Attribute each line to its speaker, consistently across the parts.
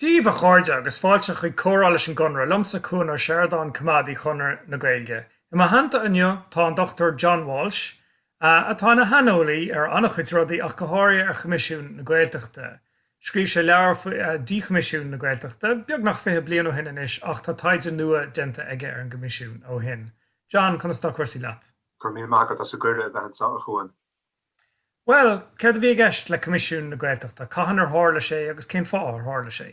Speaker 1: Dia daoibh, a chairde, agus fáilte chuig Comhrá leis an gConradh, liomsa Cuan Ó Seireadáin, Coimeádaí Chonradh na Gaeilge. I mo theannta inniu tá an Dr John Walsh, atá ina shaineolaí ar an-chuid rudaí ach go háirithe ar Choimisiún na Gaeltachta. Scríobh sé leabhar faoi díchoimisiún na Gaeltachta beagnach fiche bliain ó shin anois ach tá taighde nua déanta aige ar an gCoimisiún ó shin. John, conas tá cúrsaí leat? Go raibh míle maith agat as
Speaker 2: an gcuireadh a bheith anseo, a Chuan.
Speaker 1: Bhuel, céard a bhí i gceist le Coimisiún na Gaeltachta, cathain ar tharla sé agus cén fáth ar tharla sé?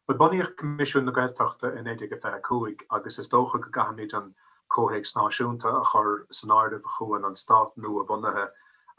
Speaker 1: Bhuel, bunaíodh
Speaker 2: Coimisiún na Gaeltachta i 1925 agus is dócha go gcaithfimid an comhthéacs náisiúnta a chur san áireamh, a Chuain, an stát nua-bhunaithe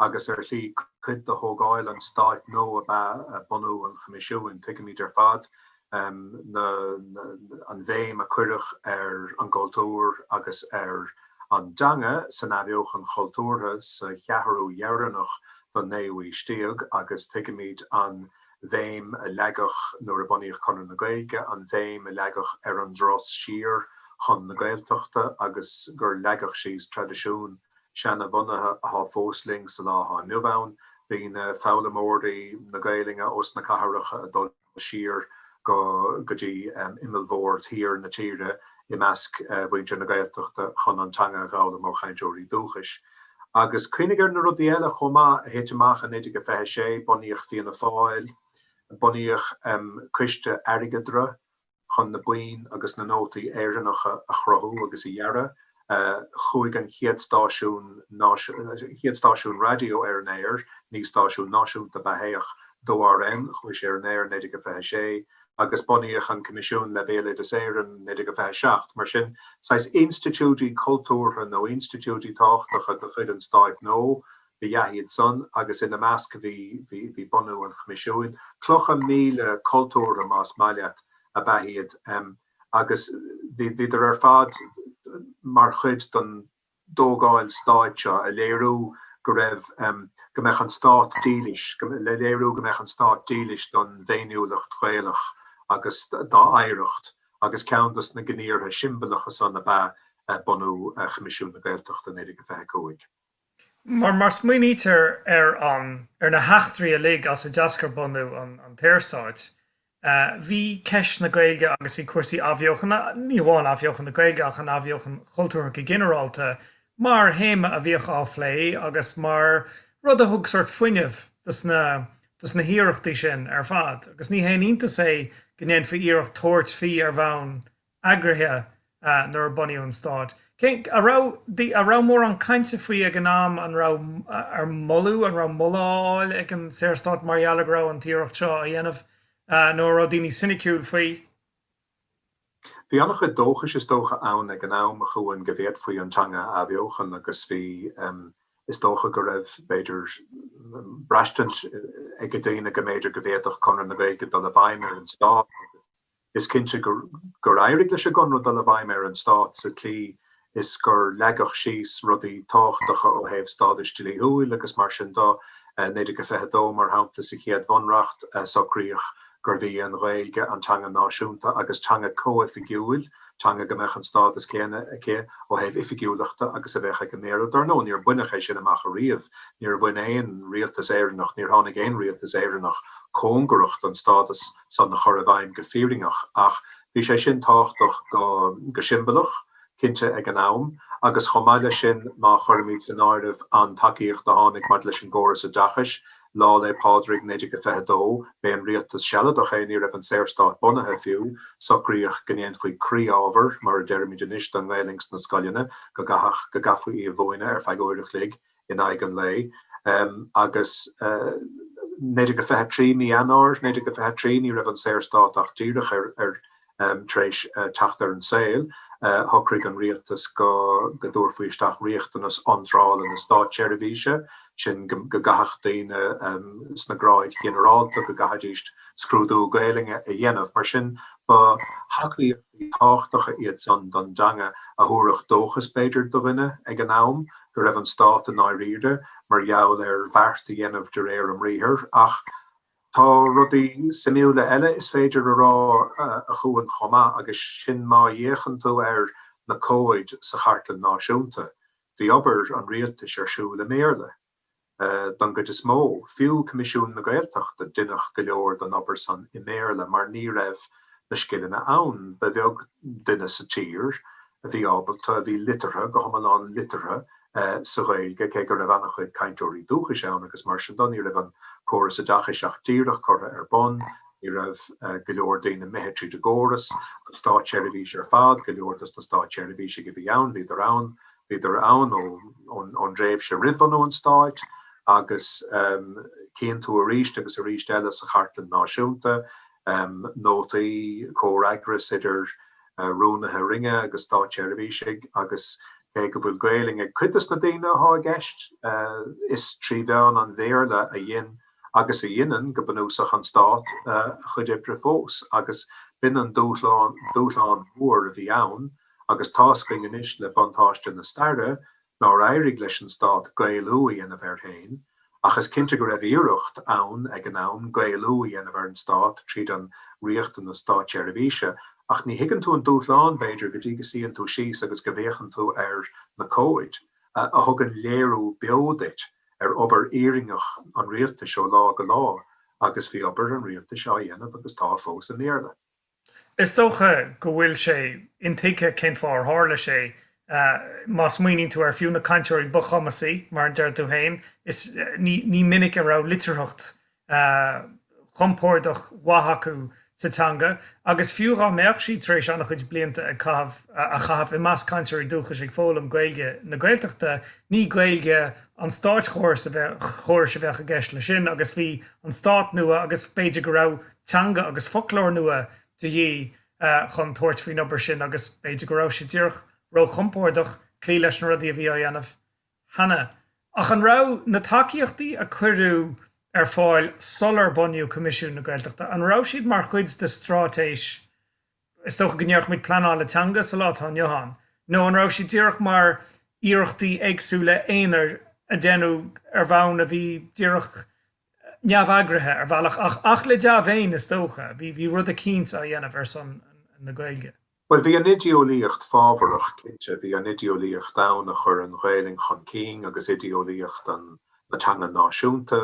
Speaker 2: agus ar shlí cuid de thógáil an stáit nua ab ea bunú an Choimisiúin. Tuigimid ar fad an bhéim a cuireadh ar an gcultúr agus ar an dteanga san athbheochan chultúrtha sa cheathrú dheireanach don naoú haois déag agus tuigimid an bhéim a leagadh nuair a bunaíodh Conradh na Gaeilge, an bhéim a leagadh ar an dturas siar chun na Gaeltachta agus gur leagadh síos traidisiún seana-bhunaithe athá fós linn sa lá athá inniu ann, daoine, foghlaimeoirí na Gaelainne ós na cathracha ag dul siar go dtí imeallbhord thiar na tíre i measc mhuintir na Gaeltachta chun an teanga a fhoghlaim ó chainteoirí dúchais. Agus cuimhnigh ar na rudaí eile chomh maith a thit amach in 1926, bunaíodh Fianna Fáil, bunaíodh coiste airgeadra, chun na boinn agus na nótaí Éireannacha a chruthú agus a dhearadh. Chuaigh an chéad stáisiún, an chéad stáisiún raidió ar an aer, ní stáisiún náisiúnta ab ea é ach 2RN, chuaigh sé ar an aer 1926 agus bunaíodh an Coimisiún le Béaloideas Éireann 1927. Mar sin, saghas institiúidí cultúrtha nó institiúidí tábhachtacha de chuid an Stáit nua ab ea iad san agus ina measc bhí, bhí, bhí bunú an Choimisiúin. Clocha míle cultúrtha, más maith leat, ab ea iad. Agus bhí, bhíodar ar fad mar chuid don dtógáil stáit seo, a léiriú go raibh, go mbeadh an stát dílis, le léiriú go mbeadh an stát dílis don bhféiniúlacht Ghaelach agus dá oidhreacht agus ceann dos na gníomhartha siombalacha san ab ea bunú Choimisiún na Gaeltachta in 1925. Mar má
Speaker 1: smaoinítear ar an, ar na heachtraí uilig as a d'eascair bunú an, an tSaorstáit, bhí ceist na Gaeilge agus bhí cúrsaí athbheochana, ní hamháin athbheochan na Gaeilge ach an athbheochan chultúrtha go ginearálta, mar théama a bhíodh á phlé agus mar rud a thug sort fuinneamh dos na, dos na hiarrachtaí sin ar fad. Agus ní haon iontas é go ndéanfaí iarracht tabhairt faoi ar bhonn eagraithe nuair a bunaíodh an Stát. An raibh mórán cainte faoi ag an am, an raibh ar moladh, an raibh moladh á fháil ag an Saorstát mar gheall go raibh an t-iarracht seo á dhéanamh nó an raibh daoine soiniciúil faoi?
Speaker 2: Bhí an-chuid dóchais is dócha ann ag an am a Chuain go bhféadfaí an teanga a athbheochan agus bhí, is dócha go raibh, b'fhéidir, braistint ag daoine go mb'fhéidir go bhféadfadh Conradh na Gaeilge dul i bhfeidhm ar an Stát. Is cinnte gur éirigh leis an gConradh dul i bhfeidhm ar an stát sa tslí is gur leagadh síos rudaí tábhachtacha ó thaobh stádais dlíthiúil agus mar sin do. 1922, mar shampla, sa chéad bhunreacht, socraíodh gurbh í an Ghaeilge an teanga náisiúnta agus teanga comhoifigiúil, teanga go mbeadh an stádas céanna aici ó thaobh oifigiúlachta agus a bheadh ag an mBéarla. Dar ndóigh, níor baineadh é sin amach ariamh. Níor bhain aon rialtas Éireannach, níor tháinig aon rialtas Éireannach cóngarach don stádas. san a chur i bhfeidhm go fírinneach ach bhí sé sin tábhachtach go siombalach, cinnte, ag an am agus chomh maith leis sin má chuirimid in áireamh an tacaíocht a tháinig maidir leis an gcóras oideachais, Lá Fhéil' Pádraig 1922, b'é an Rialtas Sealadach é, ní raibh an Saorstát bunaithe fiú, socraíodh go ndéanfaí croí-ábhar, mar a deirimid anois, don nGaelainn sna scoileanna, go gcaithfeadh, go gcaithfí í a mhúineadh ar feadh uair a chloig in aghaidh an lae agus 1923 mí Eanáir 1923 ní raibh an Saorstát ach díreach ar tar éis teacht ar an saol, shocraigh an rialtas go dtabharfaí isteach riachtanas iontrála na státseirbhíse, sin go gcaithfeadh daoine sna gráid ghinearálta go gcaithfidís scrúdú Gaelainne a dhéanamh, mar sin ba shocruithe. tábhachtacha iad san don dteanga a thabharfadh dóchas, b'fhéidir, do dhuine ag an am go raibh an stát i ndáiríre mar gheall ar bheart a dhéanamh de réir a mbriathar, ach tá rudaí suimiúla eile is féidir a rá a Chuain chomh maith agus sin. Má fhéachann tú ar na comhaid sa Chartlann Náisiúnta, bhí obair an rialtais ar siúl i mBéarla. don gcuid is mó. Fiú Coimisiún na Gaeltachta, deineadh go leor don obair san i mBéarla mar ní raibh na scileanna ann. Ba bheag duine sa tír a bhí ábalta, a bhí liteartha, go hiomlán liteartha, sa Ghaeilge cé go raibh an-chuid cainteoirí dúchais ann agus mar sin do, ní raibh an córas oideachais ach díreach curtha ar bun, ní raibh go leor daoine imithe tríd an gcóras, an státseirbhís ar fad, go leor dos na státseirbhísigh a bhí ann, bhíodar ann bhíodar ann ón dtréimhse roimh bhunú an Stáit agus tchíonn tú arís agus arís eile sa Chartlann Náisiúnta nótaí comhfhreagras idir rúnaithe roinne agus státseirbhísigh agus cé go bhfuil Gaelainn ag cuid de na daoine athá i gceist, is trí mheán an Bhéarla a dhein agus a dheineann go bunúsach an Stát a chuid oibre fós agus b'in an dúshlán mór a bhí ann. agus tá a fhios againn anois le buntáiste na staire nár éirigh leis an stát Gaelú a dhéanamh air féin, ach is cinnte go raibh iarracht ann ag an am Gaelú a dhéanamh ar an stát tríd an riachtanas státseirbhíse, ach ní thuigeann tú an dúshlán, b'fhéidir, go dtí go suíonn tú síos agus go bhféachann tú ar na comhaid a thugann léiriú beo duit ar obair fhírinneach an rialtais ó lá go lá, agus bhí obair an rialtais á dhéanamh agus tá fós i mBéarla. Is
Speaker 1: dócha go bhfuil sé intuigthe cén fáth ar tharla sé. Má smaoiníonn tú ar fiú na cainteoirí ba chumasaí, mar a deir tú féin, is ní minic a raibh litearthacht chompordach mhaith acu sa teanga agus fiú dhá mbeadh siad tar éis an-chuid blianta a chaitheamh i measc cainteoirí dúchais ag foghlaim Gaeilge na Gaeltachta, ní Gaeilge an státchórais a bheadh i gceist leis sin agus bhí an stát nua agus b'fhéidir go raibh. teanga agus foclóir nua de dhíth chun tabhairt faoin obair sin agus b'fhéidir go raibh sé díreach róchompordach cloí leis na rudaí a bhí á dhéanamh cheana. Ach an raibh na tacaíochtaí a cuireadh ar fáil sular bunaíodh Coimisiún na Gaeltachta, an raibh siad mar chuid de straitéis, is dócha go ndéarfadh muid pleanála teanga sa lá atá inniu ann, nó an raibh siad díreach mar iarrachtaí éagsúla aonair a déanadh ar bhonn a bhí díreach neamheagraithe ar bhealach ach ach le dea-mhéin is dócha. Bhí bhí rud eicínt á dhéanamh ar son na Gaeilge. Bhuel bhí an
Speaker 2: oideolaíocht fábharach cinnte. Bhí an oideolaíocht ann a chuir an Ghaelainn chun cinn agus oideolaíocht an na teanga náisiúnta.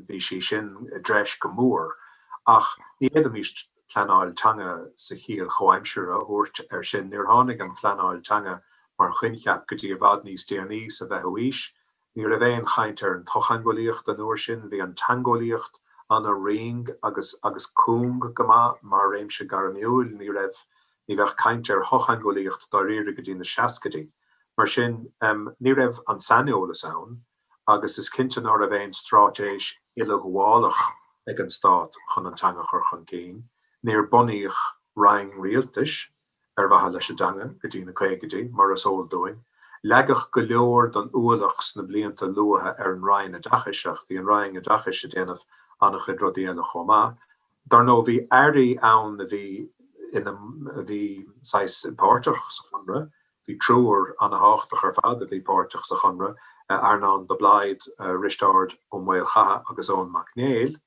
Speaker 2: Bhí sí sin i dtreis go mór ach ní fhéadfaimís pleanáil teanga sa chiall chomhaimseartha a thabhairt air sin. Níor tháinig an phleanáil teanga mar choincheap go dtí i bhfad níos déanaí sa bhfichiú haois Ní raibh aon chaint ar an tsochtheangeolaíocht an uair sin, bhí an teangeolaíocht an-righin agus agus cúng go maith mar réimse gairmiúil, ní raibh, ní bheadh caint ar shochtheangeolaíocht dáiríre go dtí na seascaidí. Mar sin, em, ní raibh an saineolas ann agus is cinnte ná raibh aon straitéis uileghabhálach ag an stát chun an teanga a chur chun cinn, níor bunaíodh roinn rialtais, ar mhaithe leis an dteanga go dtí na caogaidí, mar is eol dúinn. Leagadh go leor don ualach sna blianta luatha ar an Roinn Oideachais ach bhí an Roinn Oideachais ag déanamh an-chuid rudaí eile chomh maith. Dar ndóigh, bhí Airí ann a bhí ina, bhí saghas páirteach sa Chonradh. Bhí triúr an-tábhachtach ar fad a bhí páirteach sa Chonradh, Earnán de Blaghd, Risteárd Ó Maolchatha agus Eoin Mac Néill.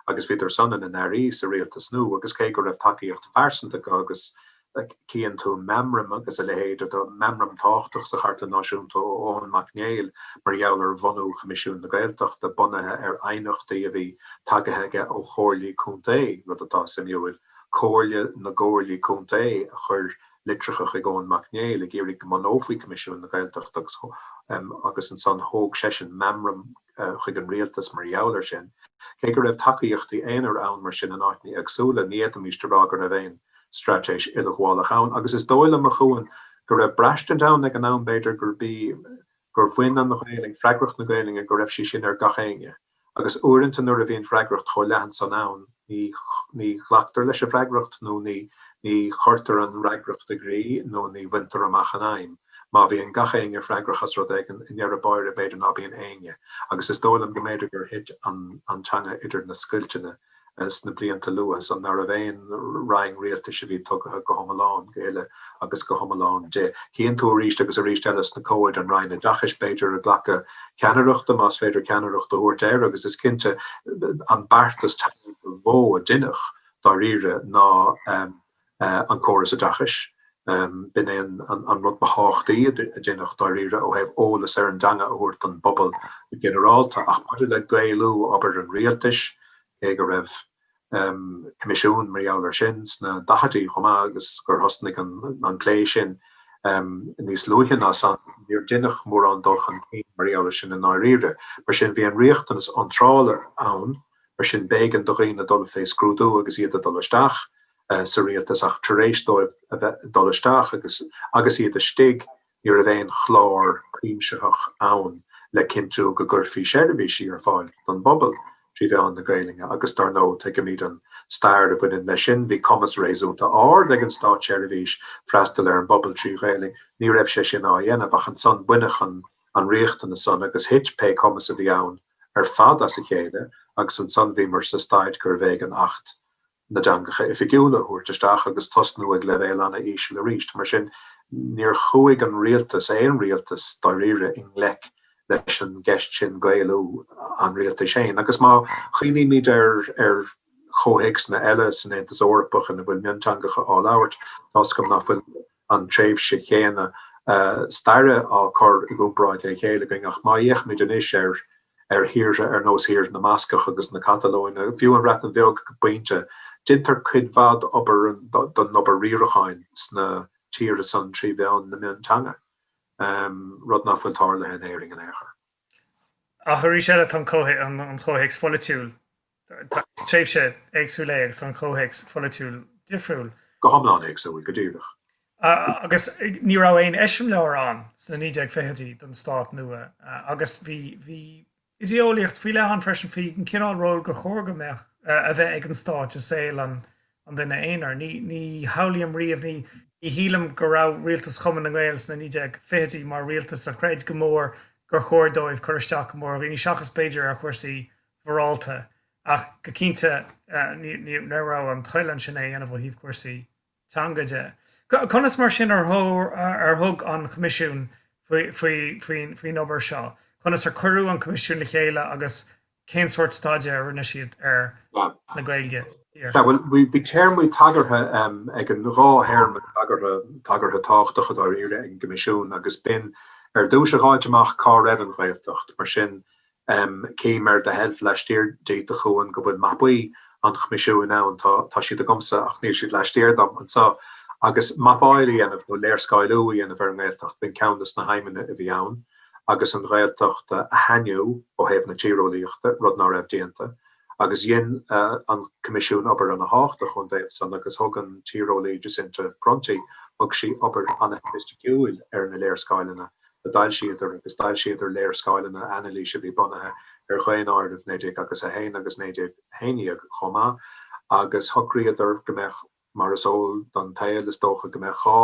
Speaker 2: agus bhíodar san ina n-airí sa rialtas nua agus cé go raibh tacaíocht phearsanta acu agus chíonn tú meamraim agus a leithéid de mheamram tábhachtach sa Chartlann Náisiúnta ó Eoin Mac Néill mar gheall ar bhunú Choimisiún na Gaeltachta bunaithe ar aighneachtaí a bhí tagaithe aige ó chomhairlí contae, rud atá suimiúil, Comhairle na gComhairlí Contae a chuir litreacha chuig Eoin Mac Néill ag iarraidh go mbunófaí Coimisiún na Gaeltachta agus ansan thóg seisean meamram chuig an rialtas mar gheall ar sin. Cé go raibh tacaíochtaí aonair ann mar sin in áiteanna éagsúla, ní fhéadfaimis a rá go raibh aon straitéis uileghabhálach ann agus is dóigh liom, a Chuan, go raibh braistint ann ag an am b'fhéidir gurb í gur bhain an Ghaelainn, freagracht na Gaelainne, go raibh sí sin ar gach éinne agus uaireanta nuair a bhíonn freagracht chomh leathan san ann, Ní Ní ghlactar leis an bhfreagracht nó ní Ní chuirtear an fhreagracht i gcrích nó ní bhaintear amach an aidhm. Má bhíonn gach éinne freagrach as rud éigin, i ndeireadh báire b'fhéidir ná bíonn éinne. Agus is dóigh liom go mb'fhéidir gur thit an an teanga idir na scoilteanna sna blianta luatha san ná raibh aon Roinn Rialtais a bhí tugtha go hiomlán, go huile, agus go hiomlán di. Tchíonn tú arís agus arís eile sna comhaid, an Roinn Oideachais, b'fhéidir, ag glacadh ceannaireachta, más féidir ceannaireacht a thabhairt air, agus is cinnte an beartas teanga ba mhó a deineadh, dáiríre, ná an córas oideachais. B'in é an rud ba thábhachtaí a deineadh, dáiríre, ó thaobh eolas ar an dteanga a thabhairt don bpobal go ginearálta. Ach maidir le Gaelú obair an rialtais, cé go raibh. Coimisiún mar gheall air sin sna daichidí chomh maith agus gur thosnaigh an plé sin níos luaithe ná san, níor deineadh mórán dul chun cinn mar gheall air sin i ndáiríre. Mar sin, bhí an riachtanas iontrála ann, mar sin b'éigean do dhaoine dul fé scrúdú agus iad ag dul isteach sa rialtas ach tar éis dóibh a bheith ag dul isteach agus iad istigh, Ní raibh aon chlár cuimsitheach ann le cinntiú go gcuirfí seirbhísí ar fáil don bpobal trí mheán na Gaelainne agus dár ndóigh, tuigimid an stair a bhaineann leis sin, bhí cumas réasúnta ard ag an státseirbhís freastal ar an bpobal trí Ghaelainn. Ní raibh sé sin á dhéanamh ach ansan baineadh an riachtanas san agus thit pé cumas a bhí ann ar fad as a chéile agus ansan bhíomar sa staid gurbh éigean Acht na dteangacha oifigiúla a thabhairt isteach agus tosnú ag leibhéal an-íseal arís. Mar sin, níor chuaigh an rialtas, aon rialtas dáiríre, i ngleic leis an gceist sin, Gaelú an rialtais féin. Agus má chuimhnímid ar chomhthéacsanna eile san Aontas Eorpach ina bhfuil mionteangacha á labhairt, tá's agam ná fuil an tréimhse chéanna staire á cur i gcomparáid le chéile againn, ach má fhéachaimid anois ar thíortha ar nós Thír na mBascach agus na Catalóine, fiú an Bhreatain Bheag go pointe, dintar cuid mhaith den obair riaracháin sna tíortha san trí mheán na mionteanga, rud ná fuil tarlaithe in Éirinn in aon chor. Ach
Speaker 1: arís eile tá an comhthéacs polaitiúil Is tréimhse éagsúil é agus tá an comhthéacs polaitiúil difriúil. Go hiomlán
Speaker 2: éagsúil, go díreach.
Speaker 1: Agus ní raibh aon eiseamláir ann sna 1920idí don stát nua agus bhí bhí idé-eolaíocht faoi leith ann freisin faoi an cineál ról gur chóir go mbeadh, a bheith ag an stát i saol an duine aonair. Ní shamhlaím riamh, ní shílim go raibh rialtas Chumann na nGael sna 1920idí mar rialtas a chreid go mór gur chóir dóibh cur isteach go mór ar dhaoine seachas b'fhéidir ar chúrsaí mhorálta ach go cinnte ní raibh an toil ansin é a dhéanamh ó thaobh cúrsaí teanga de. Conas mar sin ar thug an Coimisiún faoin obair seo? Conas ar cuireadh an Coimisiún le chéile agus cén sórt staidéir a rinne siad ar na Gaeil thiar? Sea, bhuel,
Speaker 2: bhí téarmaí tagartha ag an dhá théarma tagartha tábhachtacha dáiríre ag an gCoimisiún agus b'in ar dtús a fháilt amach cá raibh an Ghaeltacht. Mar sin, cím ar do sheilf laistiar díot a Chuain go bhfuil mapaí an Choimisiúin ann, tá tá siad agamsa ach níl siad laistiar díom anseo. Agus mapáíl a dhéanamh nó léarscáiliú a dhéanamh ar an nGaeltacht, b'in ceann de na haidhmeanna a bhí ann agus an Ghaeltacht a shainiú ó thaobh na tíreolaíochta, rud ná raibh déanta. Agus dhein an Coimisiún obair ana thábhachtach ón dtaobh san agus thug an tíreolaí Jacinta Prunty, thug sí obair ana shoifisticiúil ar na léarscáileanna a d'fhoilsíodar agus d'fhoilsíodar léarscáileanna anailíse a bhí bunaithe ar dhaonáirimh 1901 agus 1911 chomh maith agus shocraíodar go mbeadh, mar is eol don tsaol is dócha, go mbeadh dhá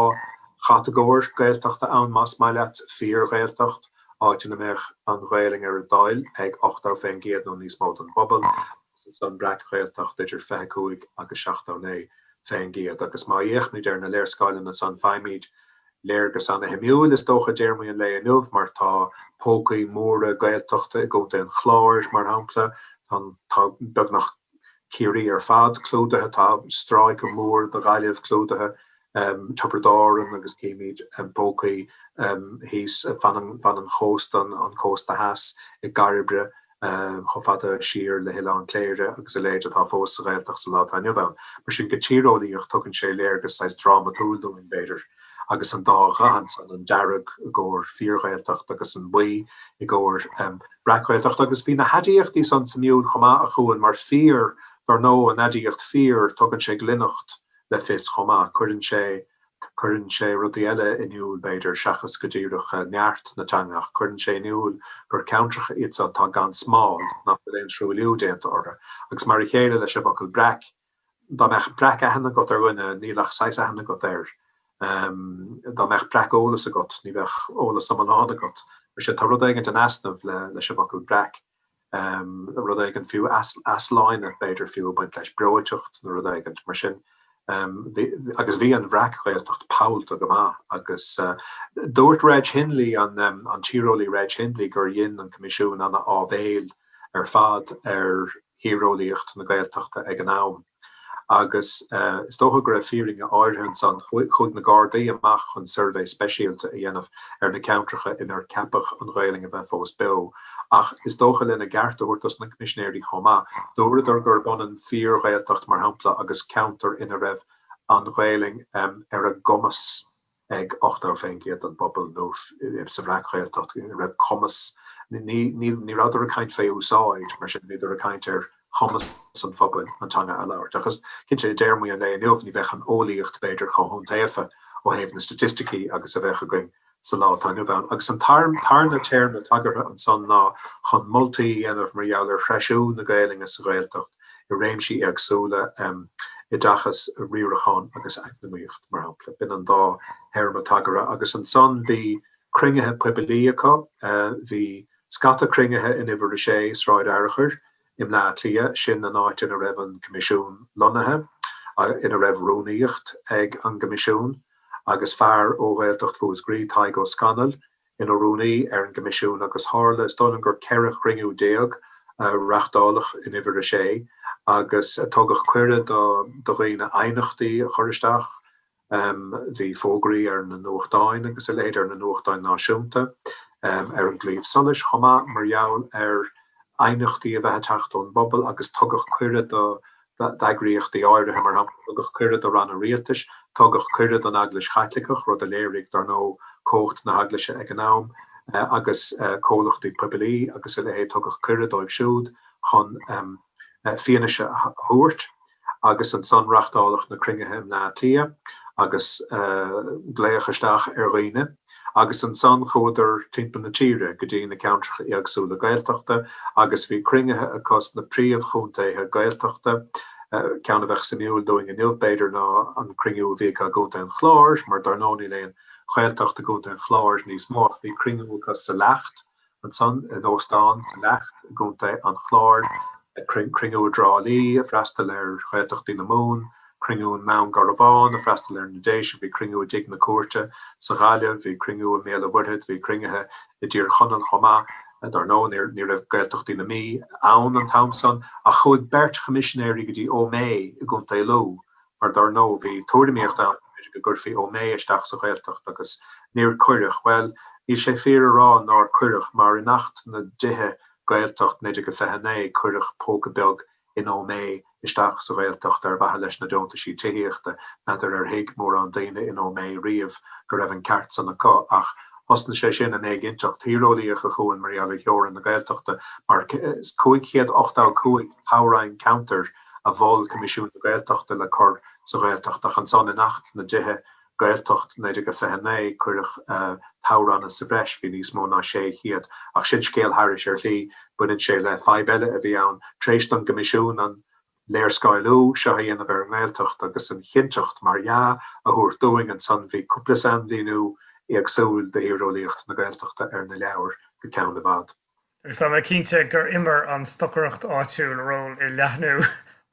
Speaker 2: chatagóir Gaeltachta ann más maith leat, Fíor-Ghaeltacht, áit ina mbeadh an Ghaelainn ar a dtoil ag 80 fén gcéad nó níos mó den bpobal, is an Bhreac-Ghaeltacht idir 25 agus 79 faoin gcéad agus má fhéachaimid ar na léarscáileanna san faighimid léargas ana shuimiúil is dócha i dtéarmaí an lae inniu mar tá pócaí móra Gaeltachta i gContae an Chláir mar shampla tá beagnach Ciarraí ar fad clúdaithe tá stráice mór de Ghaillimh clúdaithe Tiobraid Árann agus chímid pócaí thíos fan an chósta, an cósta theas, i gCairbre chomh fada siar le hOileán Cléire agus a leithéid atá fós sa Ghaeltacht sa lá atá inniu ann. Mar sin go tíreolaíoch tugann sé léargas saghas drámatúil dúinn, b'fhéidir, agus an dá dhath ansan, an dearg i gcomhair fíorGhaeltacht agus an buí i gcomhair breacghaeltacht. Agus bhí na haidiachtaí san suimiúil chomh maith, a Chuain, mar fíor, dar ndóigh, an aidiacht fíor, tugann sé glaineacht le fios chomh maith. Cuireann sé cuireann sé rudaí eile in iúl, b'fhéidir, seachas go díreach neart na teanga, ach cuireann sé in iúl gur ceantracha iad seo atá gan smál, nach bhfuil aon truailliú déanta orthu. Agus mar a chéile leis an bhfocal breac, dá mbeadh breac aithne agat ar dhuine, níl ach saghas aithne agat air. Dá mbeadh breac eolas agat, ní bheadh eolas iomlán agat. Mar sin, tá rud éigint in easnamh leis an bhfocal breac. rud éigin fiú, easláine b'fhéidir fiú ag baint leis, breoiteacht nó rud éigint mar sin. Agus bhí an bhreac-Ghaeltacht pollta go maith agus dúirt Reg Hindley, an tíreolaí Reg Hindley, gur dhein an Coimisiún an-áibhéil ar fad ar thíreolaíocht na Gaeltachta ag an am. agus is dócha go raibh fírinne áirithe ansan. Chuaigh na Gardaí amach chun suirbhé speisialta a dhéanamh ar na ceantracha inar ceapadh an Ghaelainn a bheith fós beo, ach is dócha, lena gceart a thabhairt dos na Coimisinéirí chomh maith, dúradar gurb ionann fíor-Ghaeltacht, mar shampla, agus ceantar ina raibh an Ghaelainn ar a gcumas. ag 80% den bpobal nó sa bhreac-Ghaeltacht go raibh cumas Ní rabhadar ag caint fé úsáid, mar sin, bhíodar ag caint ar chumas an phobail an teanga a labhairt. Agus cinnte, i dtéarmaí an lae inniu, ní bheadh an eolaíocht, b'fhéidir, chomh hiontaofa ó thaobh na staitisticí agus a bheadh againn sa lá atá inniu ann. Agus an tarna téarma tagartha ansan ná chun moltaí a dhéanamh mar gheall ar threisiú na Gaelainne sa Ghaeltacht. i réimsí éagsúla, oideachas, riarachán agus eacnamaíocht, mar shampla. B'in an dá théarma tagartha. Agus ansan bhí cruinnithe poibilí acu. Bhí scata cruinnithe in Uimhir 6, Sráid Fhearchair, i mBleá Cliath, sin an áit ina raibh an Coimisiún lonnaithe, ina raibh rúnaíocht ag an gCoimisiún, agus fear ó Ghaeltacht Mhúscraí, Tadhg Ó Scanaill, ina rúnaí ar an gCoimisiún agus tharla, is dóigh liom, gur ceithre chruinniú déag a reachtáladh in Uimhir 6 agus tugadh cuireadh do dhaoine aighneachtaí a chur isteach. Bhí fógraí ar na nuachtáin agus a leithéid, ar na nuachtáin náisiúnta, ar an gClaíomh Solais chomh maith, mar gheall ar aighneachtaí a bheith ag teacht ón bpobal agus tugadh cuireadh do d'eagraíochtaí áirithe, mar shampla, tugadh cuireadh do ranna rialtais, tugadh cuireadh don Eaglais Chaitliceach, rud a léirigh, dar ndóigh, cumhacht na hEaglaise ag an am, agus comhlachtaí poiblí agus a leithéid, tugadh cuireadh dóibh siúd chun fianaise a thabhairt. Agus ansan reachtáladh na cruinnithe i mBleá Cliath agus glaodh isteach ar dhaoine. agus ansan chuadar timpeall na tíre go dtí na ceantracha éagsúla Gaeltachta agus bhí cruinnithe acu sna príomh chontaetha Gaeltachta, ceann a bheadh suimiúil dúinn inniu b'fhéidir ná an cruinniú a bhí acu i gContae an Chláir, mar dar ndóigh níl aon Ghaeltacht i gContae an Chláir níos mó, ach bhí cruinniú acu sa Leacht ansan in Óstán sa Leacht i gContae an Chláir cruinniú i dTrá Lí ag freastal ar Ghaeltachtaí na Mumhan, cruinniú i nDún Garbhán ag freastal ar na Déise, bhí cruinniú i dTigh na Cúirte sa Ghaillimh, bhí cruinniú i mBéal an Mhuirthead, bhí cruinnithe i dTír Chonaill chomh maith. Dar ndóigh, ní raibh Gaeltachtaí na Mí ann an t-am san ach chuaigh beirt choimisinéirí go dtí Ó Méith i gContae Lú mar dar ndóigh bhí tuairimíocht ann go gcuirfí Ó Méith isteach sa Ghaeltacht agus níor cuireadh, bhuel níl sé fíor a rá nár cuireadh mar in Acht na dTithe, Gaeltacht, 1929 cuireadh póca beag in Ó Méith isteach sa Ghaeltacht ar mhaithe leis na deontaisí tithíochta. N'fheadar ar thuig mórán daoine in Ó Méith riamh go raibh an ceart san acu ach thosnaigh sé sin an éiginnteacht thíreolaíoch a chur ann mar gheall ar theorainn na Gaeltachta mar 585 toghroinn ceantair a mhol Coimisiún na Gaeltachta le cur sa Ghaeltacht ach ansan in Acht na dTithe, Gaeltacht, 1929 cuireadh toghranna sa bhreis, bhí níos mó ná 600 ach sin scéal thairis. Ar shlí baineann sé le fadhb eile a bhí ann, tar éis don gCoimisiún an léarscáiliú seo a dhéanamh ar an nGaeltacht agus an chinnteacht, mar dhea, a thabhairt dúinn ansan bhí cúpla sainmhíniú éagsúil de thíreolaíocht na Gaeltachta ar na leabhair go ceann i bhfad. agus tá mé
Speaker 1: cinnte gur imir an stocaireacht áitiúil ról i leathnú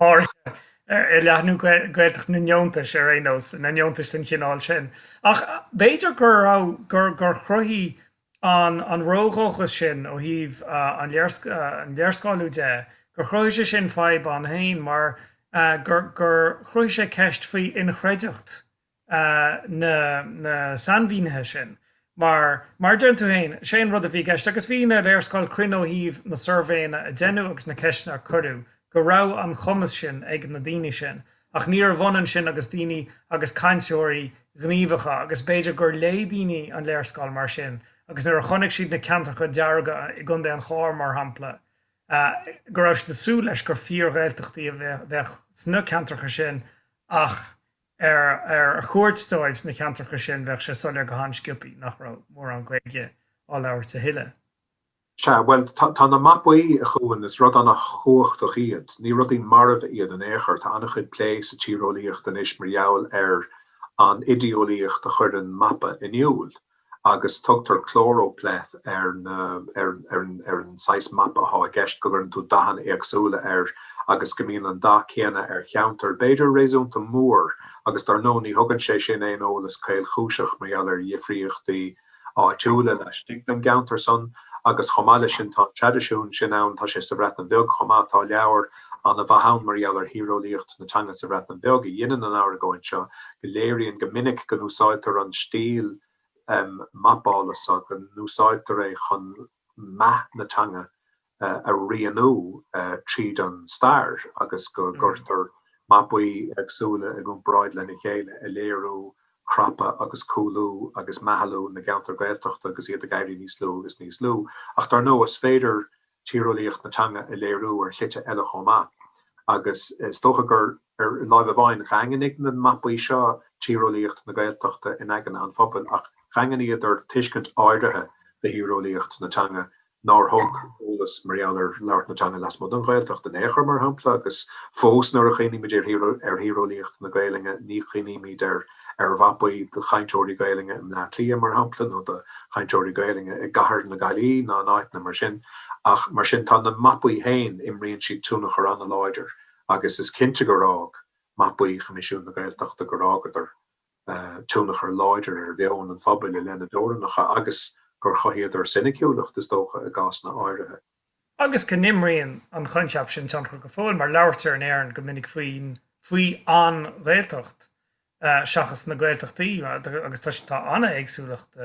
Speaker 1: áirithe, i leathnú Gaeltacht na ndeontais ar aon nós, na ndeontais den chineál sin. Ach b'fhéidir go raibh, gur, gur chruthaigh an, an ródhóchas sin ó thaobh an léarscáiliú de, gur chruthaigh sé sin fadhb ann féin mar gur, gur chruthaigh sé ceist faoi inchreideacht na sainmhínithe sin mar, mar a deireann tú féin, sé an rud a bhí i gceist agus bhí na léarscáil cruinn ó thaobh na suirbhéanna a déanadh agus na ceisteanna a cuireadh go raibh an cumas sin ag na daoine sin ach níorbh ionann sin agus daoine agus cainteoirí gníomhacha agus b'fhéidir gur léigh daoine an léarscáil mar sin agus nuair a chonaic siad na ceantracha dearga i gContae an Chláir mar shampla go raibh siad ag súil leis gur fíor-Ghaeltachtaí a bheadh sna ceantracha sin ach ar a chuairt dóibh sna ceantracha sin bheadh sé soiléir go han-sciopaí nach raibh mórán Gaeilge á labhairt a thuilleadh. Sea, bhuel,
Speaker 2: tá na mapaí, a Chuain, is rud an-chumhachtach iad. Ní rudaí marbha iad in aon chor. Tá an-chuid plé sa tíreolaíocht anois mar gheall ar an idé-eolaíocht a chuireann mapa in iúl. agus tugtar choropleth ar an saghas mapa athá i gceist, go gcuireann tú dathanna éagsúla air agus go mbíonn an dath céanna ar cheantar b'fhéidir réasúnta mór agus dár ndóigh ní thugann sé sin aon eolas caolchúiseach mar gheall ar dhifríochtaí áitiúla laistigh den gceantar san agus chomh maith leis sin tá an traidisiún sin ann, tá sé sa Bhreatain Bheag chomh maith, tá leabhar. An-mhaith ann mar gheall ar thíreolaíocht na teanga sa Bhreatain Bheag a dheineann an argóint seo, go léiríonn go minic go n-úsáidtear an stíl mapála so, go n-úsáidtear é chun meath na teanga a rianú tríd an stair agus go gcuirtear mapaí éagsúla i gcomparáid lena chéile ag léiriú crapadh agus cúlú agus meathlú na gceantar Gaeltachta agus iad ag éirí níos lú is níos lú. Ach dar ndóigh is féidir tíreolaíocht na teanga a léiriú ar shlite eile chomh maith, agus is dócha gur ar láimh amháin dhaingnigh na mapaí seo tíreolaíocht na Gaeltachta in aigne an phobail ach dhaingníodar tuiscint áirithe de thíreolaíocht na teanga nár thug eolas mar gheall ar labhairt na teanga lasmuigh den Ghaeltacht in aon chor, mar shampla, agus fós nuair a chuimhnímid ar thíreolaíocht na Gaelainne ní chuimhnímid ar ar mhapaí de chainteoirí Gaelainne i mBleá Cliath, mar shampla, nó de chainteoirí Gaelainne i gCathair na Gaillí ná in áiteanna mar sin, ach mar sin tá na mapaí féin, imríonn siad tionchar an-láidir agus is cinnte gur fhág mapaí Choimisiún na Gaeltachta, gur fhágadar tionchar láidir ar mheon an phobail i leith na dteorannacha agus gur chothaíodar soiniciúlacht, is dócha, i gcásanna áirithe. agus
Speaker 1: go n-imríonn an coincheap sin tionchar go fóill mar labhairtear in Éirinn go minic faoin, faoi an, Ghaeltacht seachas na Gaeltachtaí agus tá an-éagsúlacht,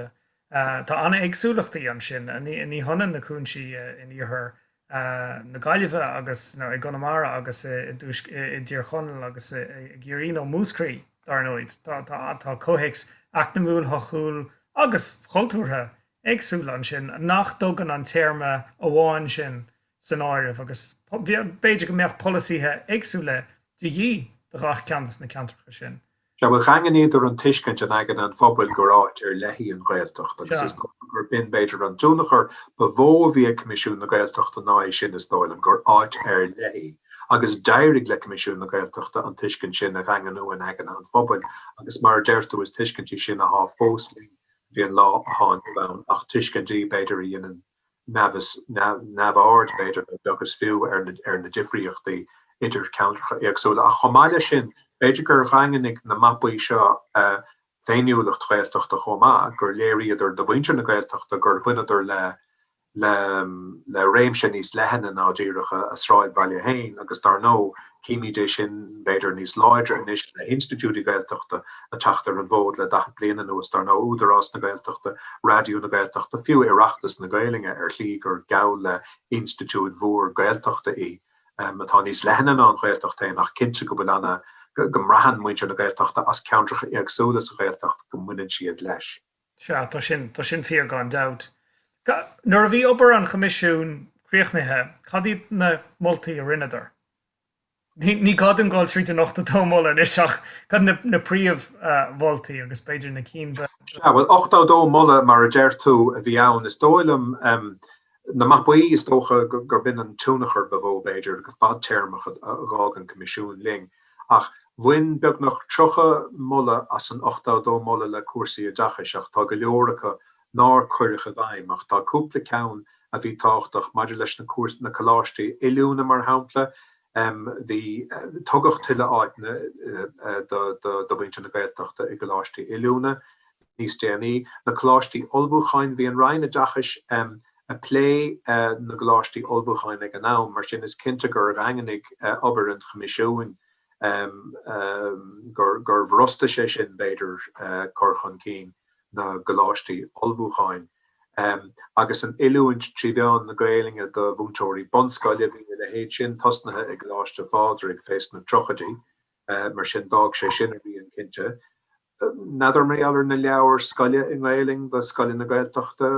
Speaker 1: tá an-éagsúlachtaí ansin, ní hionann na cúinsí in iarthar na Gaillimhe agus, nó i gConamara agus i dtuaisc, i dTír Chonaill agus i gCiarraí nó Múscraí dár ndóigh, tá comhthéacs eacnamúil, sochúil agus cultúrtha éagsúla ansin nach dtugann an téarma amháin sin san áireamh agus b'fhéidir go mbeadh polasaithe éagsúla de dhíth do gach ceantar de na ceantracha sin. Sea, bhuel,
Speaker 2: dhaingníodar an tuiscint in aigne an phobail gur áit ar leith í an Ghaeltacht agus is gurb in b'fhéidir an tionchar ba mhó a bhí ag Coimisiún na Gaeltachta ná é sin, is dóigh liom, gur áit ar leith í agus d'éirigh le Coimisiún na Gaeltachta an tuiscint sin a dhaingniú in aigne an phobail agus mar a deir tú is tuiscint í sin athá fós linn Bhí an lá atá inniu ann ach tuiscintí b'fhéidir a dheineann neamh-aird b'fhéidir nó beag is fiú ar na difríochtaí idir ceantracha éagsúla. Ach chomh maith leis sin b'fhéidir gur dhaingnigh na mapaí seo féiniúlacht Ghaeltachta chomh maith, gur léiríodar do mhuintir na Gaeltachta gur bhaineadar le. le réimse níos leithne ná díreach a sráidbhaile féin agus dar ndóigh, címid é sin b'fhéidir níos láidre anois le hinstitiúidí Gaeltachta a teacht ar an bhfód le daichead bliain anuas, dar ndóigh, Údarás na Gaeltachta, Raidió na Gaeltachta, fiú Oireachtas na Gaelainne ar shlí gur geall le hinstitiúid mhór Gaeltachta í, atá níos leithne ná an Ghaeltacht féin ach cinnte go bhfuil go mbraitheann muintir na Gaeltachta as ceantracha éagsúla sa Ghaeltacht go mbaineann siad leis. Sea, tá
Speaker 1: sin, tá sin fíor gan dabht. Nuair a bhí obair an Choimisiúin críochnaithe, cad iad na moltaí a rinneadar? Ní gá dom dul tríd an ochtó dó moladh anois ach cad iad na príomh-mholtaí agus b'fhéidir na cinn ba... Sea, bhuel, ochtó
Speaker 2: dó moladh mar a deir tú a bhí ann. Is dóigh liom, Na mapaí, is dócha gur b'in an tionchar ba mhó, b'fhéidir, go fadtéarmach a dh'fhág an Coimisiún linn. Ach bhain beagnach 30 moladh as an 82 moladh le cúrsaí oideachais, ach tá go leor acu nár cuireadh i bhfeidhm, ach tá cúpla ceann a bhí tábhachtach, maidir leis na coláistí oiliúna, mar shampla, Tugadh tuilleadh áiteanna do mhuintir na Gaeltachta i gcoláistí oiliúna níos déanaí. Na Coláistí Ullmhúcháin Bhí an Roinn Oideachais um a plé na gcoláistí ullmhúcháin ag an am, mar sin is cinnte gur dhaingnigh obair an Choimisiúin um gur bhrostaigh sé sin, b'fhéidir, cur chun cinn na gcoláistí ullmhúcháin. agus an oiliúint trí mheán na Gaelainne do mhúinteoirí bunscoile, bhí a leithéid sin tosnaithe i gColáiste Phádraig fés na triochaidí, mar sin d'fhág sé sin a rian, cinnte. N'fheadar mé i dtaobh na leabhair scoile i nGaelainn do scoileanna Gaeltachta,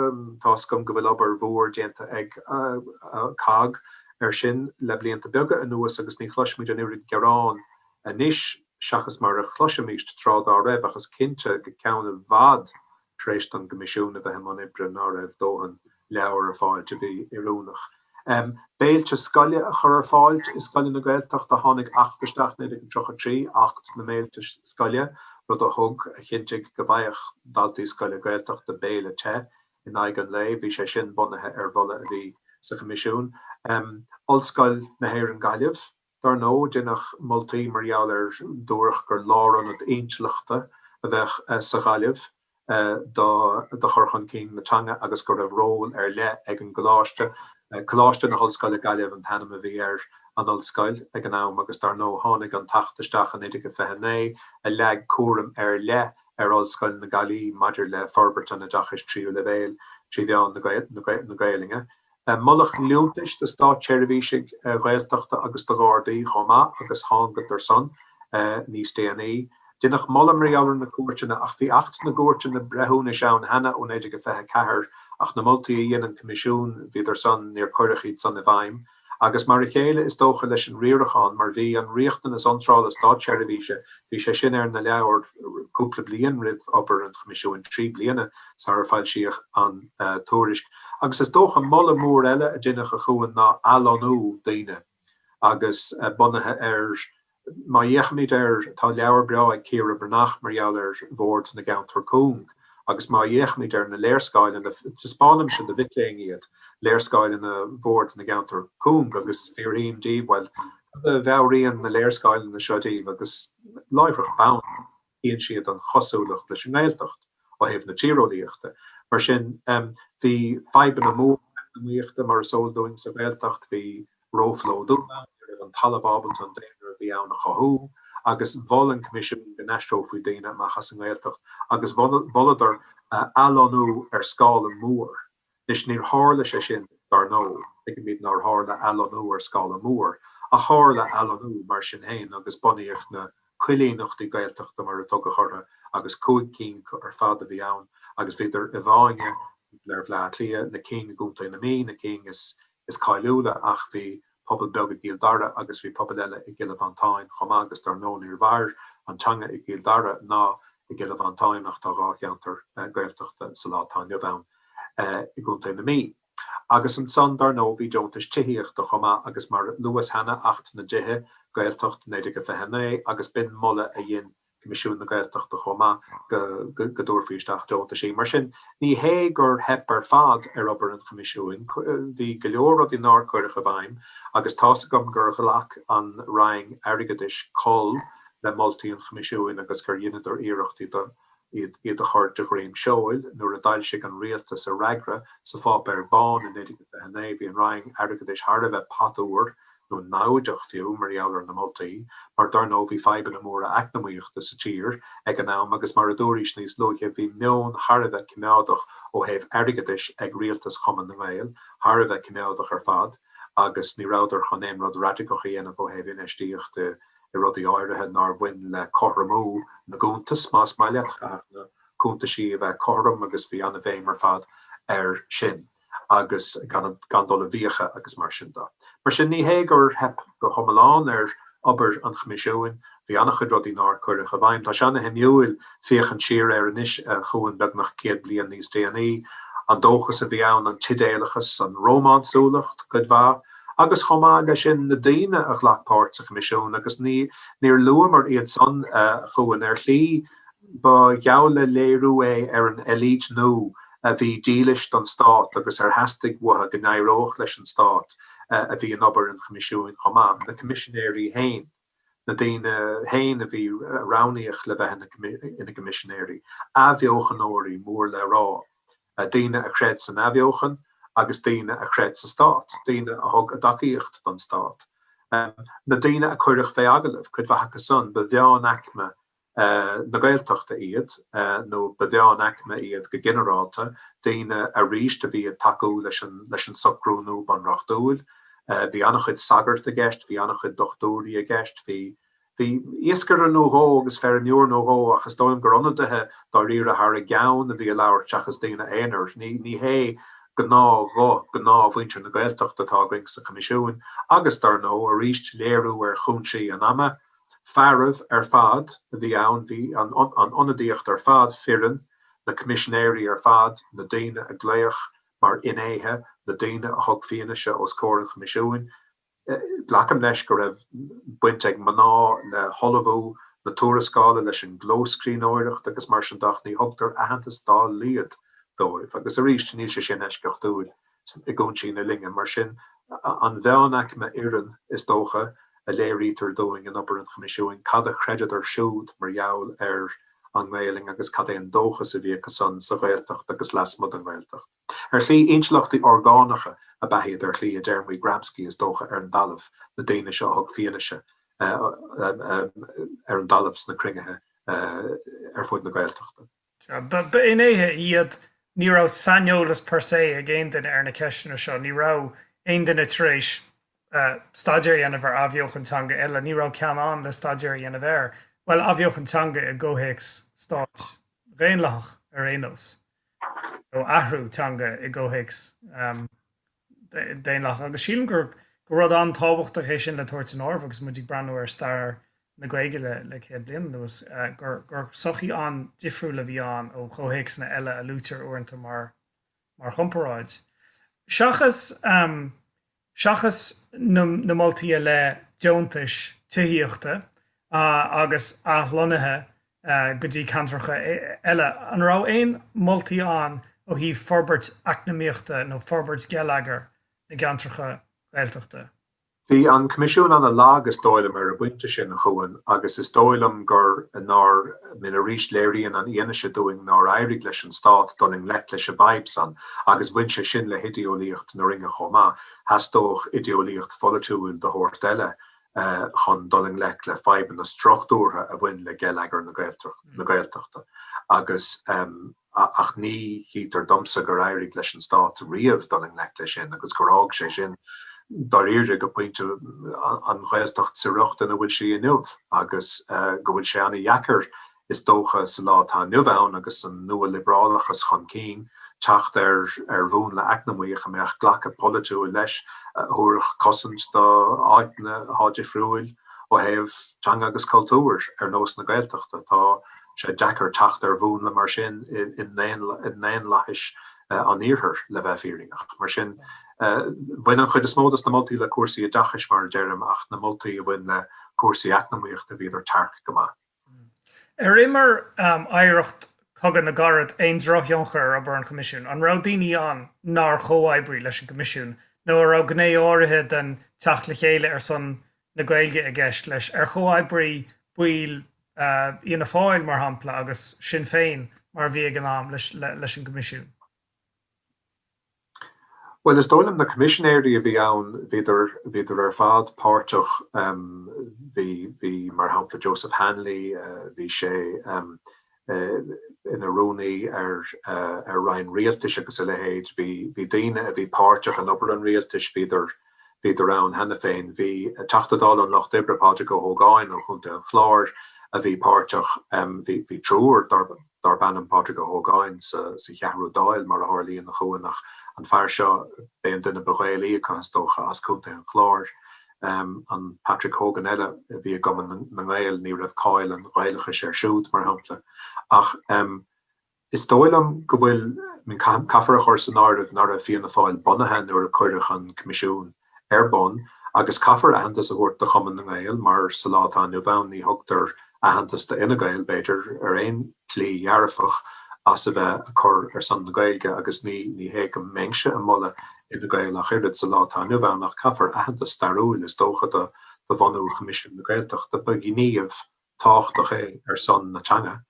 Speaker 2: tá 'fhios agam go bhfuil obair mhór déanta ag COGG ar sin le blianta beaga anuas agus ní chloisimid an oiread gearán anois seachas mar a chloisimíst tráth dá raibh ach is cinnte go ceann i bhfad tar éis don gCoimisiún a bheith i mbun oibre, ná raibh dóthain leabhar ar fáilt a bhí oiriúnach. Béilte scoile a chur ar fáilt i scoileanna Gaeltachta, tháinig Acht isteach 1933, Acht na mBéilte Scoile, rud a thug, a chinntigh go bhfaigheadh daltaí scoile Gaeltachta béile te in aghaidh an lae, bhí sé sin bunaithe ar mholadh a bhí sa Choimisiún. Ollscoil na hÉireann Gaillimh. Dar ndóigh, deineadh moltaí mar gheall ar dúradh gur lárionad intleachta a bheadh sa Ghaillimh do chur chun cinn na teanga agus go raibh ról ar leith ag an gcoláiste. Coláiste na hOllscoile Gaillimh an t-ainm a bhí ar an ollscoil ag an am agus dar ndóigh tháinig an tAcht isteach in 1929 a leag cúram ar leith ar Ollscoil na Gaillmhe maidir le forbairt an oideachais tríú leibhéil trí mheán na Gaolainne. moladh liúntais do státseirbhísigh Ghaeltachta agus do Ghardaí chomh maith agus thángadar san níos déanaí. Deineadh moladh mar gheall ar na cúirteanna ach bhí Acht na gCúirteanna Breithiúnais ann cheana ó 1924 ach na moltaí a dhein an Coimisiún bhíodar san níor cuireadh iad san i bhfeidhm. Agus mar a chéile is dócha leis an riarachán mar bhí an riachtanas iontrála státseirbhíse bhí sé sin ar na leabhair cúpla bliain roimh obair an Choimisiúin, trí bliana sara foilsíodh an tuairisc. Agus is dócha moladh mór eile a deineadh ag cuimhneamh ná athlonnú daoine agus bunaithe ar, má fhéachaimid ar, tá leabhar breá ag Ciara Breathnach mar gheall ar bhord na gceantar cúng, agus má fhéachaimid ar na léarscáileanna, taispeánaimse do mhic léinn iad, léarscáileanna bhord na gceantar cúng agus fiafraím díobh, bhuel, cad a mheabhraíonn na léarscáileanna seo daoibh agus láithreach bonn. Tchíonn siad an chosúlacht leis an nGaeltacht ó thaobh na tíreolaíochta. Mar sin, bhí fadhbanna móra eacnamaíochta, mar is eol dúinn, sa Ghaeltacht. Bhí róphlódú ann, ní raibh an talamh ábalta an daonra a bhí ann a chothú, agus mhol an Coimisiún go n-aistreofaí daoine amach as an nGaeltacht, agus mholadar athlonnú ar scála mór. Anois, níor tharla sé sin, dar ndóigh, tuigimid nár tharla athlonnú ar scála mór, ach tharla athlonnú mar sin féin agus bunaíodh na 'coilíneachtaí Gaeltachta' mar a tugadh orthu agus cúig cinn acu ar fad a bhí ann agus bhíodar i bhfáinne thar Bhleá Cliath, na cinn i gContae na Mí, na cinn is. is cáiliúla ach bhí pobal beag i gCill Dara agus bhí pobal eile i gCille Mhantáin chomh maith agus dar ndóigh níor mhair an teanga i gCill Dara ná i gCille Mhantáin ach tá dhá cheantar Gaeltachta sa lá atá inniu ann i gContae na Mí agus ansan dar ndóigh bhí deontais tithíochta chomh maith agus mar a luas cheana Acht na dTithe, Gaeltacht, 1929 agus b'in moladh a dhein Coimisiún na Gaeltachta chomh maith go dtabharfaí isteach deontaisí. Mar sin, ní hé gur theip ar fad ar obair an Choimisiúin. Bhí go leor rudaí nár cuireadh i bhfeidhm agus tá's agam gur ghlac an Roinn Airgeadais col le moltaí an Choimisiúin agus gur dheineadar iarracht iad a chur de dhroim seoil. Nuair a d'fhoilsigh an Rialtas a fhreagra sa pháipéar bán i 1929 bhí an Roinn Airgeadais thar a bheith patfhuar nó namhaideach fiú, mar gheall ar na moltaí, mar dar ndóigh bhí fadhbanna móra eacnamaíochta sa tír ag an am agus mar a dúraís níos luaithe bhí meon thar a bheith coimeádach ó thaobh airgeadais ag rialtas Chumann na nGael, thar a bheith coimeádach ar fad agus ní rabhadar chun aon rud raidiceach a dhéanamh ó thaobh infheistíocht i rudaí áirithe nár bhain le cothromú na gcuntas, más maith leat, chaithfeadh na cuntaisí a bheith cothrom agus bhí an-bhéim ar fad air sin. agus gan dul i bhfiacha agus mar sin de. Mar sin, ní hé gur theip go hiomlán ar obair an Choimisiúin. Bhí an-chuid rudaí nár cuireadh i bhfeidhm. Tá sé an-shuimiúil féachaint siar air anois a Chuain beagnach céad bliain níos déanaí. An dóchas a bhí ann, an t-idéalachas, an rómánsúlacht, cuid mhaith, agus chomh maith le sin, na daoine a ghlac páirt sa Choimisiún agus níor luamar iad san a Chuain ar shlí Ba gheall le léiriú é ar an élite nua a bhí dílis don stát agus ar theastaigh uathu go n-éireodh leis an stát a bhí in obair an Choimisiúin chomh maith, na Coimisinéirí féin, na daoine féin a bhí roghnaíoch le bheith ina gCoimisinéirí, athbheochanóirí mór le rá, daoine a chreid san athbheochan agus daoine a chreid sa stát, daoine a thug a dtacaíocht don stát. Na daoine a cuireadh fé agallamh, cuid mhaith acu san, ba mheánaicme na Gaeltachta iad, nó ba mheánaicme iad go ginearálta, daoine aríst a bhí ag tacú leis an socrú nua bunreachtúil. Bhí an-chuid sagart i gceist, bhí an-chuid dochtúirí i gceist, bhí bhí iascaire nó dhó agus feirmeoir nó dhó ach is dóigh liom gur ionadaithe dáiríre thar a gceann a bhí ag labhairt seachas daoine aonair. Ní hé gnáthghuth ghnáthmhuintir na Gaeltachta atá againn sa Choimisiún agus dar ndóigh, aríst léiriú ar chúinsí an ama Fearaibh ar fad a bhí ann, bhí an ionadaíocht ar fad fireann, na coimisinéirí ar fad, na daoine a glaodh mar fhinnéithe, na daoine a thug fianaise os comhair an Choimisiúin. Glacaim leis go raibh baint ag mná le hullmhú na tuarascála, leis an gclóscríbhneoireacht agus mar sin de ach ní thugtar aitheantas dá laghad dóibh agus arís níl sé sin eisceachtúil. i gcúinsí na linne. Mar sin, an mheánaicme fhireann, is dócha, a léirítear dúinn in obair an Choimisiúin, cad a chreideadar siúd mar gheall ar an nGaelainn agus cad é an dóchas a bhí acusan sa Ghaeltacht agus lasmuigh den Ghaeltacht. Ar shlí, intleachtaigh orgánacha ab ea iad, ar shlí, i dtéarmaí Gramsci, is dócha, ar an dtalamh, na daoine seo a thug fianaise ar an dtalamh sna cruinnithe ar fud na Gaeltachta. Ba
Speaker 1: fhinnéithe iad. Ní raibh saineolas per se ag aon duine ar na ceisteanna seo. Ní raibh aon duine tar éis staidéar a dhéanamh ar athbheochan teanga eile. Ní raibh ceann ann le staidéar a dhéanamh air, bhuel, athbheochan teanga i gcomhthéacs stáit dhaonlathach ar aon nós, nó athrú teanga i gcomhthéacs. daonlathach. Agus sílim gur rud an-tábhachtach é sin le tabhairt san áireamh agus muid ag breathnú ar stair na Gaeilge le céad bliain anuas, gur sochaí an-difriúil a bhí ann ó chomhthéacsanna eile a luaitear uaireanta mar chomparáid. Seachas seachas na moltaí i leith deontais tithíochta agus athlonnaithe go dtí ceantracha eile. An raibh aon moltaí ann ó thaobh forbairt eacnamaíochta nó forbairt geilleagar na gceantracha Gaeltachta? Bhí an
Speaker 2: Coimisiún ana lag is dóigh liom ar an bpointe sin, a Chuain, agus is dóigh liom gur, nár, I mean arís léiríonn an fhianaise dúinn nár éirigh leis an Stát dul i ngleic leis an bhfadhb san agus bhain sé sin le hidéolaíocht na Roinne chomh maith, theastódh idéolaíocht pholaitiúil de shórt eile chun dul i ngleic le fadhbanna struchtúrtha a bhain le geilleagar na Gaeltachta agus ach ní chítear domsa gur éirigh leis an Stát riamh dul i ngleic leis sin agus gur fhág sé sin dáiríre go pointe an Ghaeltacht sa riocht ina bhfuil sí inniu agus go bhfuil sé an-dheacair Is dócha sa lá atá inniu ann agus an nua-liobrálachas chun cinn, teacht ar ar mhúnla eacnamaíoch a mbeadh glacadh polaitiúil leis, a thabharfadh cosaint do áiteanna atá difriúil ó thaobh teanga agus cultúir, ar nós na Gaeltachta. Tá sé deacair teacht ar mhúnla mar sin i ndaonlathais an Iarthair, le bheith fírinneach. Mar sin, bhain an chuid is mó dos na moltaí le cúrsaí oideachais, mar a deirim, ach na moltaí a bhain le cúrsaí eacnamaíochta, bhíodar tearc go maith. Hm.
Speaker 1: Ar imir oidhreacht Chogadh na gCarad aon drochthionchar ar obair an Choimisiúin? An raibh daoine ann nár chomhoibrigh leis an gCoimisiún nó an raibh gné áirithe den teacht le chéile ar son na Gaeilge i gceist leis? Ar chomhoibrigh baill Fhianna Fáil, mar shampla, agus Sinn Féin, mar a bhí ag an am, leis an gCoimisiún?
Speaker 2: Bhuel, is dóigh liom na coimisinéirí a bhí ann, bhíodar, bhíodar ar fad páirteach, bhí, bhí mar shampla Joseph Hanley, bhí sé ina rúnaí ar, ar roinn rialtais agus a leithéid, bhí, bhí daoine a bhí páirteach in obair an rialtais, bhíodar, bhíodar ann cheana féin. Bhí Teachta Dála an Lucht Oibre, Pádraig Ó hÓgáin ó Chontae an Chláir a bhí páirteach, bhí, bhí triúr, darb ainm. darb ainm Pádraig Ó hÓgáin, sa Cheathrú Dáil, mar a tharlaíonn, a Chuain, ach an fear seo, b'é an duine ba Ghaelaí acu, is dócha, as Contae an Chláir. An Patrick Hogan eile a bhí i gCumann na nGael, ní raibh cáil an Ghaelachais air siúd, mar shampla. Ach is dóigh liom go bhfuil, I mean, caithfear a chur san áireamh, ná raibh Fianna Fáil bunaithe nuair a cuireadh an Coimisiún. ar bun agus caithfear aitheantas a thabhairt do Chumann na nGael mar sa lá atá inniu ann ní thugtar aitheantas do Fhine Gael, b'fhéidir, ar aon tslí dhearfach as a bheith a cur ar son na Gaeilge agus ní ní hé go mbeinnse a moladh Fhine Gael ach oiread sa lá atá inniu ann ach caithfear aitheantas stairiúil is dócha do bhunú Choimisiún na Gaeltachta. Ba ghníomh. tábhachtach é ar son na teanga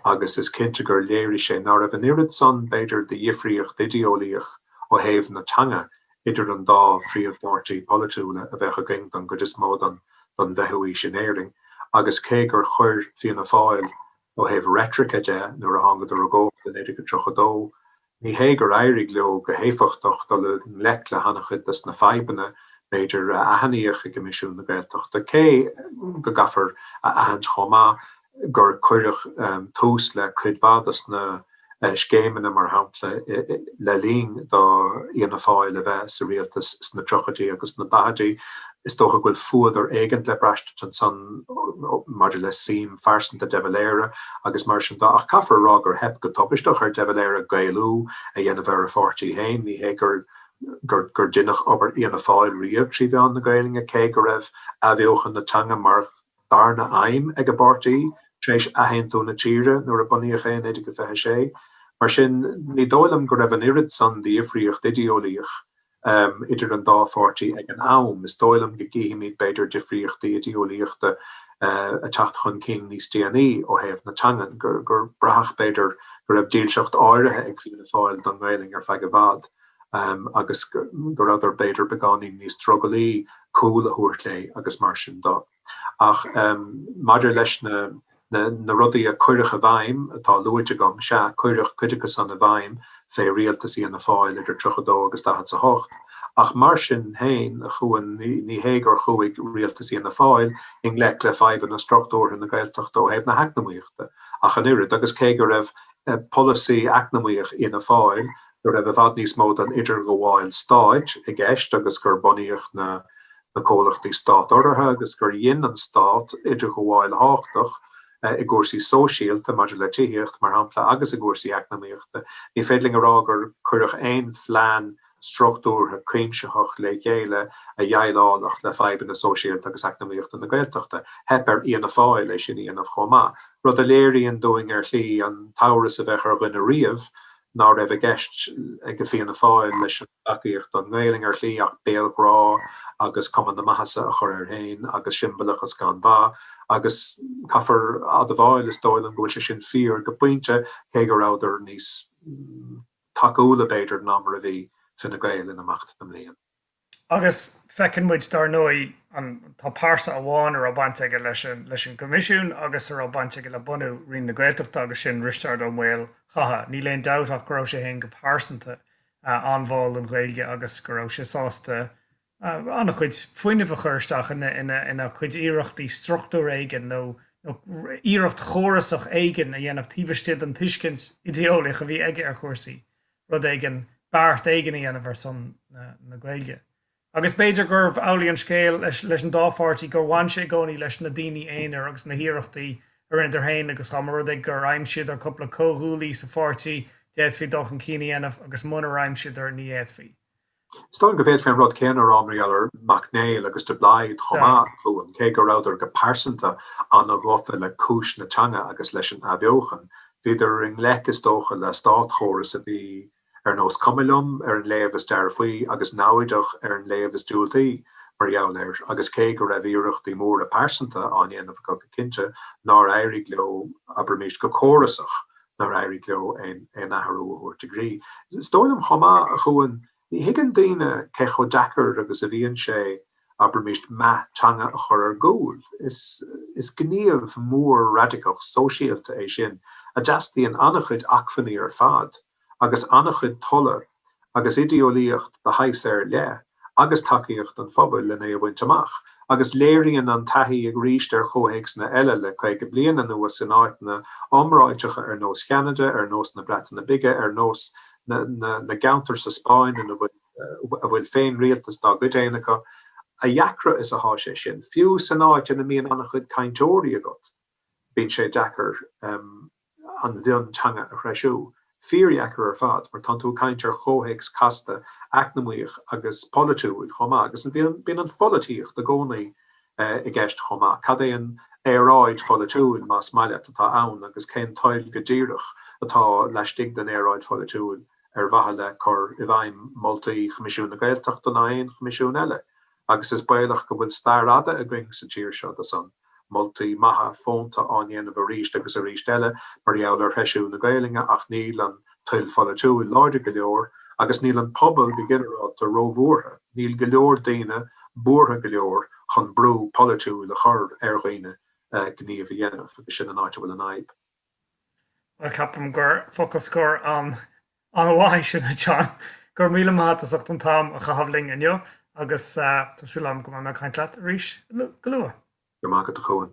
Speaker 2: agus is cinnte gur léirigh sé ná raibh an oiread san, b'fhéidir, de dhifríocht idéolaíoch ó thaobh na teanga idir an dá phríomh-pháirtí polaitiúla a bheadh againn don gcuid is mó don don bhfichiú aois in Éirinn agus cé gur chuir Fianna Fáil ó thaobh reitrice de nuair a thángadar i gcumhacht i 1932, Ní hé gur éirigh leo go héifeachtach dul i ngleic le hana-chuid des na fadhbanna, b'fhéidir, a aithníodh i gCoimisiún na Gaeltachta, cé go gcaithfear a aithint chomh maith gur cuireadh tús le cuid mhaith des na scéimeanna, mar shampla, le linn do Fhianna Fáil a bheith sa rialtas sna triochaidí agus na daichidí. Is dócha go bhfuil fuadar éigint le braistint ansan maidir le suim phearsanta De Valera agus mar sin de ach caithfear a rá gur theip go tubaisteach ar De Valera Gaelú a dhéanamh ar a pháirtí féin. Ní hé gur deineadh obair Fhianna Fáil riamh trí mheán na Gaelainne cé go raibh athbheochan na teanga mar dharna aidhm ag an bpáirtí tar éis athaontú na tíre nuair a bunaíodh é i 1926. Mar sin ní dóigh liom go raibh an oiread san de dhifríocht idéolaíoch idir an dá pháirtí ag an am. Is dóigh liom go gcífimid b'fhéidir difríochtaí idéolaíochta ag teacht chun cinn níos déanaí ó thaobh na teangan, gur braitheadh b'fhéidir go raibh dílseacht áirithe ag Fianna Fáil don nGaelainn ar feadh i bhfad agus go rabhadar b'fhéidir beagáinín níos drogallaí cúl a thabhairt léi agus mar sin de. Ach maidir leis na na rudaí a cuireadh i bhfeidhm atá luaite agam, sea, cuireadh cuid acu san i bhfeidhm fé rialtas Fhianna Fáil idir tríocha dó agus daichead 's a hocht, ach mar sin féin chua ní hé gur chuaigh rialtas Fhianna Fáil i ngleic le fadhbanna struchtúrtha na Gaeltachta ó thaobh na heacnamaíochta ach an oiread agus cé go raibh polasaí eacnamaíoch Fhianna Fáil go raibh i bhfad níos mó den idirghabháil stáit i gceist agus gur bunaíodh na na comhlachtaí stát-urraithe agus gur dhein an stát idirghabháil thábhachtach i gcúrsaí sóisialta, maidir le tithíocht, mar shampla, agus i gcúrsaí eacnamaíochta. Ní féidir linn a rá gur cuireadh aon phlean struchtúrtha cuimsitheach le chéile a dheighleálfadh le fadhbanna sóisialta agus eacnamaíochta na Gaeltachta. Theip ar Fhianna Fáil é sin a dhéanamh chomh maith, rud a léiríonn dúinn ar shlí an t-amhras a bheadh ar dhuine riamh ná raibh i gceist aige Fianna Fáil leis an dtacaíocht don nGaelainn ar shlí ach béalghrá agus cuma na maitheasa a chur air féin agus siombalachas gan bheart agus caithfear admháil is dóigh liom go bhfuil sé sin fíor go pointe cé go rabhadar níos tacúla b'fhéidir ná mar a bhí Fine Gael in imeacht na mblian.
Speaker 1: Agus feiceann muid, dar ndóigh, tá pearsa amháin a raibh baint aige leis an gCoimisiún agus a raibh baint aige le bunú Roinn na Gaeltachta agus sin Risteárd Ó Maolchatha. Níl aon dabht ach go raibh sé féin go pearsanta an-bháúil don Ghaeilge agus go raibh sé sásta an-chuid fuinnimh a chur isteach ina chuid iarrachtaí struchtúr éigin nó iarracht chórasach éigin a dhéanamh taobh istigh den tuiscint idéolaíoch a bhí aige ar chúrsaí. rud éigin, beart éigin a dhéanamh ar son na Gaeilge. Agus b'fhéidir gurbh amhlaidh an scéal leis an dá pháirtí gur bhain sé i gcónaí leis na daoine aonair agus na hiarrachtaí a rinneadar féin agus dá mba rud é gur aimsíodar cúpla comhghuaillí sa pháirtí d'fhéadfaí dul chun cinn a dhéanamh agus munar aimsíodar ní fhéadfaí Is dóigh liom
Speaker 2: go bhféadfaí an rud céanna a rá mar gheall ar Mac Néill agus de Blaghd chomh maith, a Chuain, cé go rabhadar go pearsanta an-ghafa le cúis na teanga agus leis an athbheochan, bhíodar i ngleic is dócha le státchóras a bhí ar nós cuma liom ar an léamh is dearfaí agus naimhdeach ar an léamh is diúltaí mar gheall air, agus cé go raibh iarrachtaí móra pearsanta á ndéanamh acu go cinnte, nár éirigh leo, abraimis, go córasach. nár éirigh leo aon athrú a thabhairt i gcrích. Is dóigh liom chomh maith, a Chuain, ní thuigeann daoine cé chomh deacair agus a bhíonn sé abraimis meath teanga a chur ar gcúl. Is gníomh mór raidiceach sóisialta é sin a dteastaíonn an-chuid acmhainní ar fad agus an-chuid tola agus idé-eolaíocht de shaghas ar leith agus tacaíocht an phobail lena a bhaint amach, agus léiríonn an taithí aríst ar chomhthéacsanna eile le caoga bliain anuas in áiteanna iomráiteacha ar nós Cheanada, ar nós na Breataine Bige, ar nós na gceantar sa Spáinn ina bhfuil féinrialtas dá gcuid féin acu. A dheacra is atá sé sin, fiú san áit ina mbíonn an-chuid cainteoirí agat, bíonn sé deacair an mhionteanga a threisiú. Fíordheacair ar fad, mar tánn tú ag caint ar chomhthéacs casta eacnamaíoch agus polaitiúil chomh maith agus bíonn an pholaitíocht i gcónaí i gceist chomh maith. Cad é an aeráid pholaitiúil, más maith leat, atá ann agus cén toil go díreach atá laistigh den aeráid pholaitiúil ar mhaithe le cur i bhfeidhm moltaí Choimisiún na Gaeltachta nó aon choimisiún eile? agus is baolach go bhfuil stair fhada againn sa tír seo de sin. moltaí maithe fónta á ndéanamh arís agus arís eile mar gheall ar threisiú na Gaelainne ach níl an toil pholaitiúil láidir go leor agus níl an pobal go ginearálta róbhuartha, níl go leor daoine buartha go leor chun brú polaitiúil a chur ar dhaoine gníomh a dhéanamh agus sin an áit a bhfuil an fhadhb. Bhuel
Speaker 1: ceapaim gur focal scoir an. Ana mhaith sin a John. Go raibh míle maith agat as ucht an t-am a chaitheamh linn inniu agus
Speaker 2: tá
Speaker 1: súil agam go mbeidh mé ag caint
Speaker 2: leat
Speaker 1: arís
Speaker 2: go
Speaker 1: luath. Go raibh
Speaker 2: maith agat
Speaker 1: a Chuain.